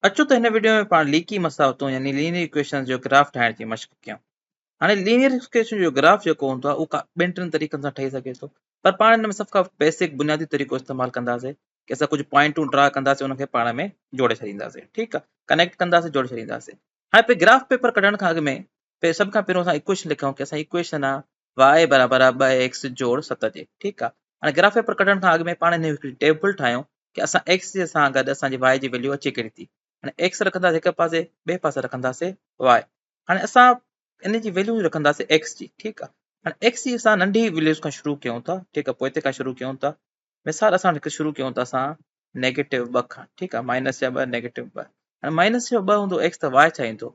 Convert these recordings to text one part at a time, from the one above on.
اچو ته هن وڊيو ۾ پاڻ ليڪي مساوتون يعني لينيئر اڪويشنز جو گراف ٺاهڻ جي مشق ڪيون. هاڻي لينيئر اڪويشن جو گراف جيڪو هوندو آهي اهو ڪا ٻن ٽن طريقن سان ٺهي سگهي ٿو پر پاڻ هن ۾ سڀ کان بيسڪ بنيادي طريقو استعمال ڪنداسين ڪي اسان ڪجهه پوائنٽون ڊرا ڪنداسين ان کي پاڻ ۾ جوڙي ڇڏينداسين ٺيڪ آهي ڪنيڪٽ ڪنداسين جوڙي ڇڏينداسين هاڻي پي گراف پيپر ڪڍڻ کان اڳ ۾ پي سڀ کان پهريون اسان اڪويشن لکيون ڪي اسان اڪويشن آهي y برابر آهي ٻه ايڪس جوڙ ست جي ٺيڪ آهي هاڻي گراف پيپر ڪڍڻ کان اڳ ۾ پاڻ هن هڪڙي ٽيبل ٺاهيون ڪي اسان ايڪس جي سان گڏ اسان جي واء جي ويليو اچي ڪهڙي ٿي هاڻي ايڪس رکنداسي هڪ پاسي ٻئي پاسي رکنداسي واء هاڻي اسان ان جي ويليو رکنداسي ايڪس جي ٺيڪ آهي هاڻي ايڪس جي اسان ننڍي ويليوز کان شروع ڪيون ٿا ٺيڪ آهي پوء تي کان شروع ڪيون ٿا مثال اسان هڪ شروع ڪيون ٿا اسان نيگيٽو ٻه کان ٺيڪ آهي مائنس يا ٻه نيگيٽو ٻه هاڻي مائنس يا ٻه هوندو ايڪس ته واء ڇا ايندو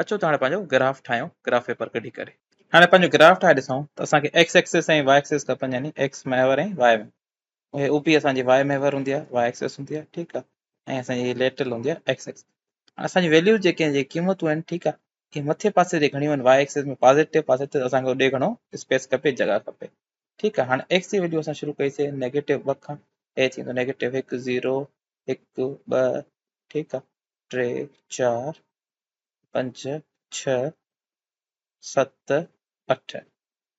اچو ته هاڻي پنهنجو گراف ٺاهيون گراف پيپر ڪڍي ڪري هاڻي پنهنجو گراف ٺاهي ڏسون ته اسان کي ايڪس ايڪسس ۽ واء ايڪسس کپن يعني ايڪس محور ۽ واء محور هي او پي اسان جي واء محور هوندي آهي واء ايڪسس هوندي آهي ٺيڪ آهي ۽ اسان جي ليٽرل هوندي آهي ايڪس ايڪسس اسان جي ويليوز جيڪي جي قيمتون آهن ٺيڪ آهي اهي مٿي پاسي جي گهڻيون آهن واء ايڪسس ۾ پازيٽو پاسي ته اسان کي ڏي گهڻو اسپيس کپي جڳا کپي ٺيڪ آهي هاڻي ايڪس جي ويليو اسان شروع ڪئي سي نيگيٽو ٻه کان اي ٿيندو نيگيٽو هڪ زيرو هڪ ٻه ٺيڪ آهي ٽي چار پنج ڇهه ست اٺ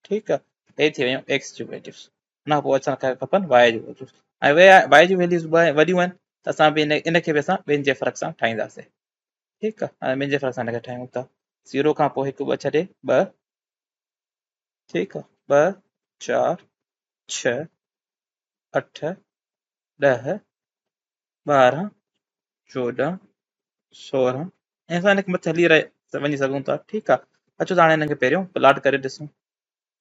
ٺيڪ آ هي ٿي ويون x جون ويليوز ان کان پوء اچڻ کپن y جون ويليوز ۽ y جون ويليوز وڏيون آهن ته اسان به ان کي به اسان ٻن جي فرق سان ٺاهينداسين ٺيڪ آ هاڻي ٻن جي فرق سان ان کي ٺاهيون ٿا زيرو کان پوء هڪ ٻه ڇڏي ٻه ٺيڪ آ ٻه چار ڇهه اٺ ڏهه ٻارهن، چوڏهن، سورهن ۽ اسان هن کي مٿي هلي رهي وڃي سگهون ٿا ٺيڪ آهي اچو ته هاڻي هنن کي پهريون پلاٽ ڪري ڏسون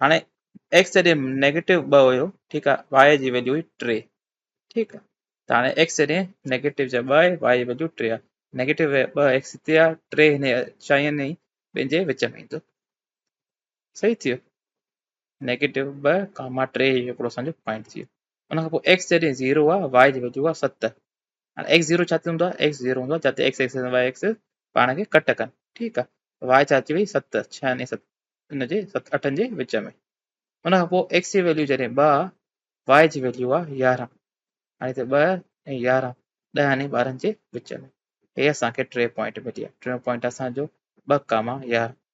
هاڻي ايڪس جڏهن نيگيٽو ٻه هيو ٺيڪ آهي واء جي ويليو هئي ٽي ٺيڪ آهي ته هاڻي ايڪس جڏهن نيگيٽو جا ٻه آهي واء جي ويليو ٽي آهي نيگيٽو ٻه ايڪس هتي آهي ٽي هن چائين ۽ ٻن جي وچ ۾ ايندو صحيح ٿيو نيگيٽو ٻه ڪاما ٽي هيو هڪڙو اسان جو پوائنٽ ٿيو ان کان پوء x جڏهن زيرو آ y جي ويجهو آ ست هاڻي x زيرو ڇا ٿيندو آ x زيرو هوندو آ جتي x ايڪسس وائي ايڪسس پاڻ کي ڪٽ ڪن ٺيڪ آ y ڇا اچي وئي ست ڇهن ۽ ست ان جي ست اٺن جي وچ ۾ ان کان پوء x جي ويليو جڏهن ٻه آ y جي ويليو آ يارهن هاڻي هتي ٻه ۽ يارهن ڏهن ۽ ٻارهن جي وچ ۾ هي اسان کي ٽي پوائنٽ ملي آ ٽيون پوائنٽ اسان جو ٻه ڪاما يارهن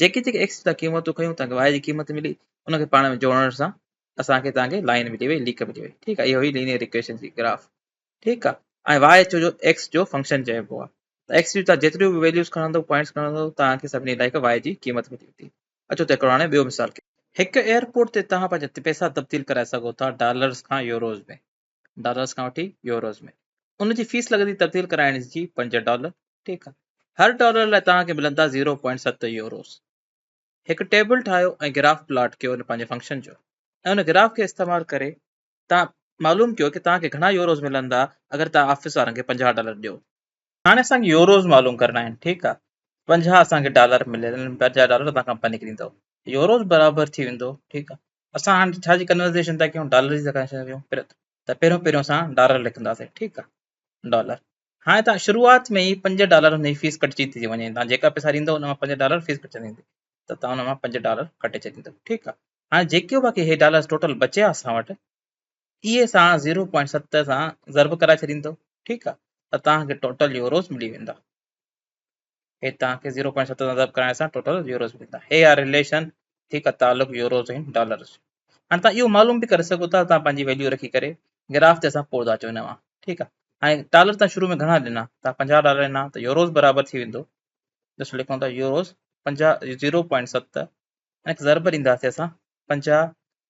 جيڪي جيڪي ايڪسچينج تان قيمتون کيون تنهن کي واحد جي قيمت ملي ان کي پاڻ ۾ جوڙڻ سان اسان کي تنهن کي لائن ملي وئي ليڪ ملي وئي ٺيڪ آهي اهو هي لينيئر ايڪويشن جي گراف ٺيڪ آهي ۽ واء اچو جو ايڪس جو فنڪشن چئبو آهي ته ايڪس جون تان جيتريون به ويليوز کڻندو پوائنٽس کڻندو تان کي سڀني لاء هڪ واء جي قيمت ملي ويندي اچو ته هڪڙو هاڻي ٻيو مثال ڪيون هڪ ايئرپورٽ تي توهان پنهنجا پئسا تبديل ڪرائي سگهو ٿا ڊالرز کان يوروز ۾ ڊالرز کان وٺي يوروز ۾ ان جي فيس لڳندي تبديل ڪرائڻ جي پنج ڊالر ٺيڪ آهي هر ڊالر لاء توهان کي ملندا زيرو پوائنٽ ست يوروز هڪ ٽيبل ٺاهيو ۽ گراف پلاٽ ڪيو ان پنهنجي فنڪشن جو ۽ ان گراف کي استعمال ڪري توهان معلوم ڪيو ڪي توهان کي گهڻا يوروز ملندا اگر توهان آفيس وارن کي پنجاهه ڊالر ڏيو هاڻي اسان کي يوروز معلوم ڪرڻا آهن ٺيڪ آهي پنجاهه اسان کي ڊالر ملي پنجاهه ڊالر توهان کان پني ڪريندو يوروز برابر ٿي ويندو ٺيڪ آهي اسان هاڻ ڇا جي ڪنورزيشن ٿا ڪيون ڊالر جي ٿا ڪريون ته پهريون پهريون اسان ڊالر لکنداسين ٺيڪ آ ڊالر هاڻي تان شروعات ۾ ئي پنج ڊالر هن جي فيس ڪٽجي ٿي وڃي تان جيڪا پئسا ڏيندو ان مان پنج ڊالر فيس ڪٽجندي ويندي ته تان ان مان پنج ڊالر ڪٽي ڇڏيندو ٺيڪ آ هاڻي جيڪي باقي هي ڊالر ٽوٽل بچيا اسان وٽ اي سان زيرو پوائنٽ ست سان ضرب ڪرائي ڇڏيندو ٺيڪ آ ته تان کي ٽوٽل يوروز ملي ويندا هي توهان کي زيرو پوائنٽ ست سان ضرب ڪرائڻ سان ٽوٽل يوروز ملندا هي آ ريليشن ٺيڪ آ تعلق يوروز ۽ ڊالرز جو هاڻي توهان اهو معلوم به ڪري سگهو ٿا توهان پنهنجي ويليو رکي ڪري گراف تي اسان پوز اچو هن وان ٺيڪ آ هاڻي ڊالر تان شروع ۾ گهڻا ڏنا توهان پنجاهه ڊالر ڏنا ته يوروز برابر ٿي ويندو ڏسو لکون ٿا يوروز پنجاهه زيرو پوائنٽ ست هن کي ضرب ڏينداسي اسان پنجاهه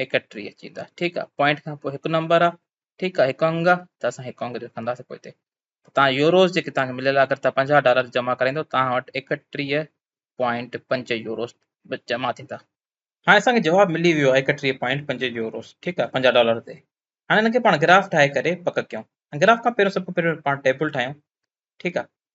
ايڪٽيهه اچي ويندا ٺيڪ آ پوائنٽ کان پوء هڪ نمبر آ ٺيڪ آ هڪ انگ آ ته اسان هڪ انگ لکنداسين پوء هتي توهان يوروز جيڪي توهان کي مليل اگر توهان پنجاهه ڊالر جمع ڪرائيندو توهان وٽ ايڪٽيهه پوائنٽ پنج يوروز جمع ٿيندا هاڻي اسان کي جواب ملي ويو آهي ايڪٽيهه پوائنٽ پنج يوروز ٺيڪ آ پنجاهه ڊالر تي هاڻي هن کي پاڻ گراف ٺاهي ڪري پڪ ڪيون گراف کان پهريون سڀ کان پهريون پاڻ ٽيبل ٺاهيون ٺيڪ آ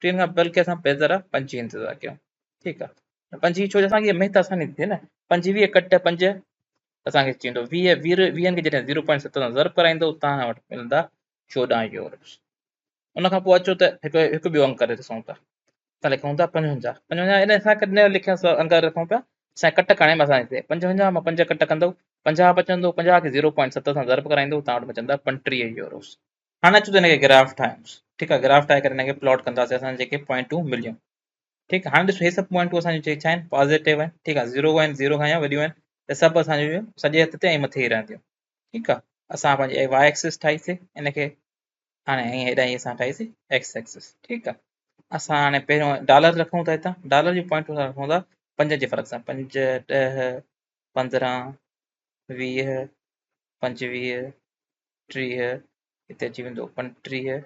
ٽين کان پهل کي اسان پيدرا پنجين انتظار ڪيون ٺيڪ آ پنجين ڇو جو اسان کي محنت آساني ٿي نه پنجويهه ڪٽ پنج اسان کي چيندو ويهه ويهه ويهن کي جڏهن زيرو پوائنٽ ست سان ضرب ڪرائيندو اتان کان وٽ ملندا چوڏهن يورس ان کان پوء اچو ته هڪ هڪ ٻيو انگ ڪري ڏسون ٿا اسان لکون ٿا پنجونجاهه پنجونجاهه ان اسان ڪڏهن لکيا انگ رکون پيا اسان ڪٽ کڻي ۾ اسان هتي پنجونجاهه مان پنج ڪٽ ڪندو پنجاهه بچندو پنجاهه کي زيرو پوائنٽ ست سان ضرب ڪرائيندو اتان وٽ بچندا پنٽيهه يوروس هاڻي اچو ته هن کي گراف ٺاهيوس ٺيڪ آ گراف ٺاهي ڪري هن کي پلاٽ ڪنداسين اسان جيڪي پوائنٽون مليون ٺيڪ هاڻي ڏسو هي سڀ پوائنٽون اسان جون ڇا آهن پازيٽو آهن ٺيڪ آ زيرو آهن زيرو کان يا وڏيون آهن ته سڀ اسان جون سڄي هٿ تي ۽ مٿي ئي رهنديون ٺيڪ آ اسان پنهنجي واء ايڪسس ٺاهيسي ان کي هاڻي ائين هيڏانهن هي اسان ٺاهيسي ايڪس ايڪسس ٺيڪ آ اسان هاڻي پهريون ڊالر رکون ٿا هتان ڊالر جون پوائنٽون اسان رکون ٿا پنج جي فرق سان پنج ڏهه پندرهن ويهه پنجويهه ٽيهه، هتي اچي ويندو پنجٽيهه،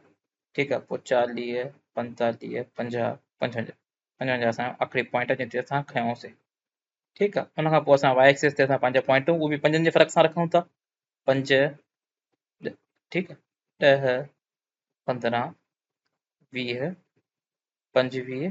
ٺيڪ آ، پوء چاليهه، پنجتاليهه، پنجاهه، پنجونجاهه، پنجونجاهه اسان جو آخري پوائنٽ آ جنهن تي اسان کنيوسين. ٺيڪ آ، ان کان پوء اسان واء ايڪسس تي اسان پنهنجا پوائنٽون اهي به پنجن جي فرق سان رکون ٿا. پنج، ٺيڪ آ، ڏهه، پندرهن، ويهه، پنجويهه،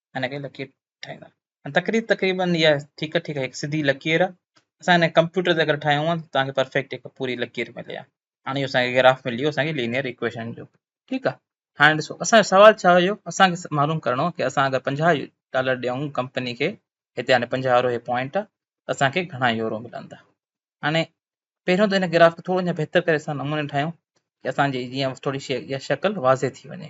هن کي لڪير ٺاهيندا آهن تقريب تقريبا اها ٺيڪ ٺيڪ هڪ سڌي لڪير آهي اسان هن ڪمپيوٽر تي اگر ٺاهيون آهن توهان کي پرفيڪٽ هڪ پوري لڪير ملي آهي هاڻي اهو اسان کي گراف ملي ويو اسان کي لينيئر ايڪويشن جو ٺيڪ آهي هاڻي ڏسو اسان جو سوال ڇا هيو اسان کي معلوم ڪرڻو هو ڪي اسان اگر پنجاهه ڊالر ڏيون ڪمپني کي هتي هاڻي پنجاهه وارو هي پوائنٽ آهي اسان کي گهڻا يورو ملندا هاڻي پهريون ته هن گراف کي ٿورو اڃا بهتر ڪري اسان نموني ٺاهيون ڪي اسان جي جيئن ٿوري شي شڪل واضح ٿي وڃي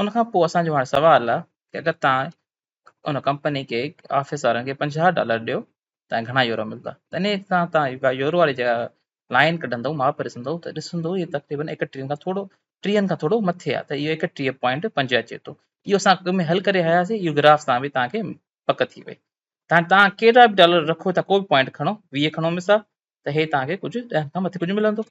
ان کان پوء اسان جو هاڻي سوال آ ڪي اگر توهان ان ڪمپني کي آفيس وارن کي پنجاهه ڊالر ڏيو توهان کي گهڻا يورو ملدا تنهن کان توهان يورو واري جڳهه لائين ڪڍندو ماپ ڏسندو ته ڏسندو هي تقريبن ايڪٽيهن کان ٿورو ٽيهن کان ٿورو مٿي آ ته اهو ايڪٽيهه پوائنٽ پنج اچي ٿو اهو اسان اڳ ۾ حل ڪري آياسي اهو گراف سان به توهان کي پڪ ٿي وئي تان توهان ڪيڏا به ڊالر رکو ٿا ڪو به پوائنٽ کڻو ويهه کڻو مثال ته هي توهان کي ڪجهه ڏهن کان مٿي ڪجهه ملندو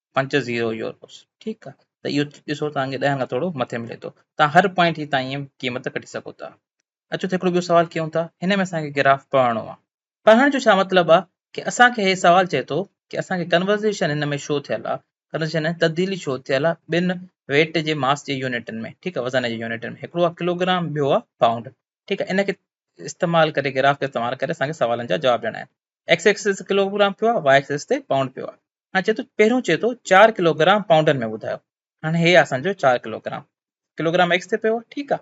پنج زيرو يوروز ٺيڪ آ ته اهو ڏسو توهان کي ڏهن کان ٿورو مٿي ملي ٿو توهان هر پوائنٽ جي تان ائين قيمت ڪڍي سگهو ٿا اچو ته هڪڙو ٻيو سوال ڪيون ٿا هن ۾ اسان کي گراف پڙهڻو آ پڙهڻ جو ڇا مطلب آ ڪي اسان کي هي سوال چئي ٿو ڪي اسان کي ڪنورزيشن هن ۾ شو ٿيل آ ڪنورزيشن ۾ تبديلي شو ٿيل آ ٻن ويٽ جي ماس جي يونٽن ۾ ٺيڪ آ وزن جي يونٽن ۾ هڪڙو آ ڪلوگرام ٻيو آ پائونڊ ٺيڪ آ ان کي استعمال ڪري گراف کي استعمال ڪري اسان کي سوالن جا جواب ڏيڻا آهن ايڪس ايڪسس ڪلوگرام پيو آ واء ايڪسس تي پائونڊ پيو آ هاڻي چئي ٿو پهريون چئي ٿو چار ڪلوگرام پائونڊن ۾ ٻڌايو هاڻي هي آسان جو چار ڪلوگرام ڪلوگرام ايڪس تي پيو ٺيڪ آ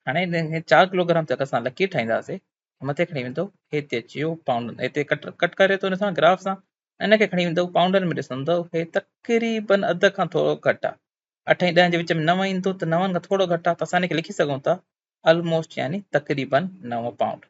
هاڻي هي چار ڪلوگرام تي اسان لکي ٺاهينداسي مٿي کڻي ويندو هي تي اچي ويو پائونڊن هتي ڪٽ ڪٽ ڪري ٿو ان سان گراف سان ان کي کڻي ويندو پائونڊن ۾ ڏسندو هي تقريبن اڌ کان ٿورو گهٽ آ اٺ ۽ ڏهن جي وچ ۾ نو ايندو ته نون کان ٿورو گهٽ آ ته اسان ان کي لکي سگهون ٿا آلموسٽ يعني تقريبن نو پائونڊ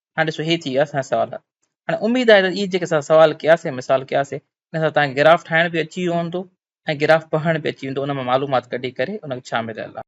هاڻي ڏسو هي ٿي ويا اسان جا سوال هاڻي اميد آهي ته اهي جيڪي اسان سوال ڪياسي مثال ڪياسي ان سان تهانکي گراف ٺاهڻ به اچي ويو هوندو ۽ گراف پڙهڻ به اچي ويندو ان مان معلومات ڪڍي ڪري ان ۾ ڇا مليل آهي.